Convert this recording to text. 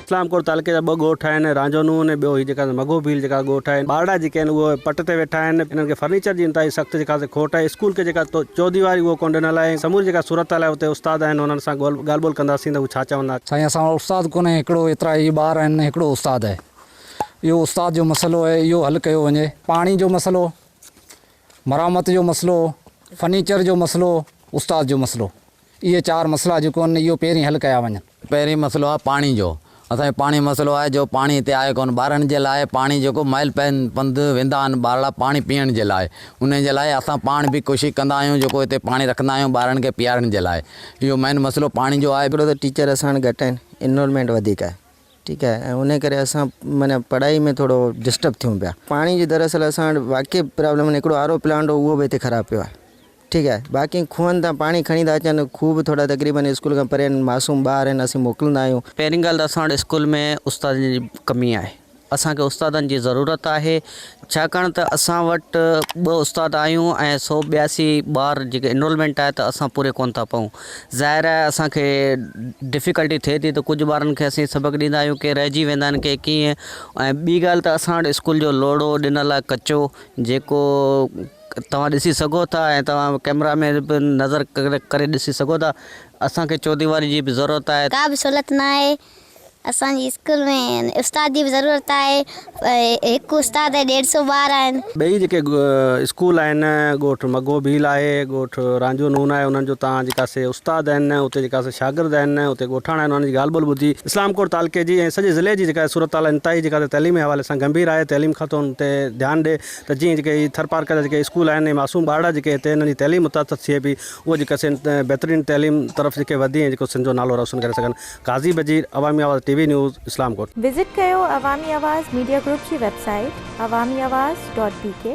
اسلام ڪوٽ تعلقي جا ٻه ڳوٺ آهن رانجهو نون ۽ ٻيو هي جيڪا مگهو ڀيل جيڪا ڳوٺ آهن ٻارڙا جيڪي آهن اهي پٽ تي ويٺا آهن انهن کي فرنيچر جي انتهائي سخت جيڪا سي کوٽ آهي اسڪول کي جيڪا چوديواري اهو ڪونه ڏنل آهي سموري جيڪا صورتحال آهي اتي استاد آهن انهن سان ڳالهه ٻولهه ڪنداسين ته هو ڇا چوندا. سائين اسان وٽ استاد ڪونهي هڪڙو ايترا هي ٻار آهن هڪڙو استاد آهي اهو استاد جو مسئلو آهي اهو حل ڪيو وڃي پاڻي جو مسئلو. مرمت جو مسئلو، فرنيچر جو مسئلو، استاد جو مسئلو اهي چار مسئلا جيڪو آهن اهو پهرين حل ڪيا وڃن. پهرين مسئلو آهي پاڻي جو، اسان کي پاڻي مسئلو آهي جو پاڻي هتي آهي ڪونه ٻارڙن جي لاء پاڻي جيڪو مائل پنڌ ويندا آهن ٻارڙا پاڻي پيئڻ جي لاء انهي جي لاء اسان پاڻ به ڪوشش ڪندا آهيون جيڪو هتي پاڻي رکندا آهيون ٻارڙن کي پيئارڻ جي لاء اهو مين مسئلو پاڻي جو آهي. هڪڙو ته ٽيچر اسان وٽ گهٽ آهن انرولمينٽ وڌيڪ آهي. ٺيڪ آهي ۽ انهي ڪري اسان معنيٰ پڙهائي ۾ ٿورو ڊسٽرب ٿيون پيا پاڻي جي دراصل اسان وٽ واقعي پرابلم معنيٰ هڪڙو آر او پلانٽ هو اهو به هتي خراب پيو آهي ٺيڪ آهي باقي کوهن تان پاڻي کڻي ٿا اچن کوهه به ٿورا تقريبن اسڪول کان پري آهن معصوم ٻار آهن اسين موڪلندا آهيون. پهرين ڳالهه ته اسان وٽ اسڪول ۾ استادن جي ڪمي آهي اسان کي استادن جي ضرورت آهي ڇاڪاڻ ته اسان وٽ ٻه استاد آهيون ۽ سؤ ٻياسي ٻار جيڪي انرولمينٽ آهي ته اسان پوري ڪونه ٿا پئون ظاهر آهي اسان کي ڊفيڪلٽي ٿئي ٿي ته ڪجهه ٻارن کي اسين سبق ڏيندا آهيون ڪي رهجي ويندا آهن ڪي ڪيئن ۽ ٻي ڳالهه ته اسان وٽ اسڪول جو لوڙهو ڏنل آهي ڪچو جيڪو توهان ڏسي سگهو ٿا ۽ توهان ڪئميرا ۾ به نظر ڪري ڏسي سگهو ٿا اسان کي چوديواري جي به ضرورت آهي. ڪا به سهولت ناهي اسان جي اسڪول ۾ استاد جي به ضرورت آهي هڪ استاد ۽ ڏيڍ سو ٻار آهن. ٻئي جيڪي اسڪول آهن ڳوٺ مگهو ڀيل آهي ڳوٺ رانجهو نون آهي انهن جو تان جيڪا سي استاد آهن اتي جيڪا سي شاگرد آهن اتي ڳوٺاڻا آهن انهن جي ڳالهه ٻولهه ٻڌي اسلام ڪوٽ تعلقي جي ۽ سڄي ضلعي جي جيڪا صورت حال انتهائي جيڪا سي تعليمي حوالي سان گنڀير آهي تعليم کاتو ان تي ڌيان ڏي ته جيئن جيڪي هي ٿرپارڪر جا جيڪي اسڪول آهن ۽ معصوم ٻارڙا جيڪي هتي انهن جي تعليم متاثر ٿئي پئي اهي جيڪا سي بهترين تعليم طرف جيڪي وڌي ۽ جيڪو سنڌ جو نالو روشن ڪري سگهن. قاضي Bajeer Awami Awaz T V news Islamkot. Visit ڪيو عوامي آواز ميڊيا گروپ جي website Awami Awaz dot بي ڪي.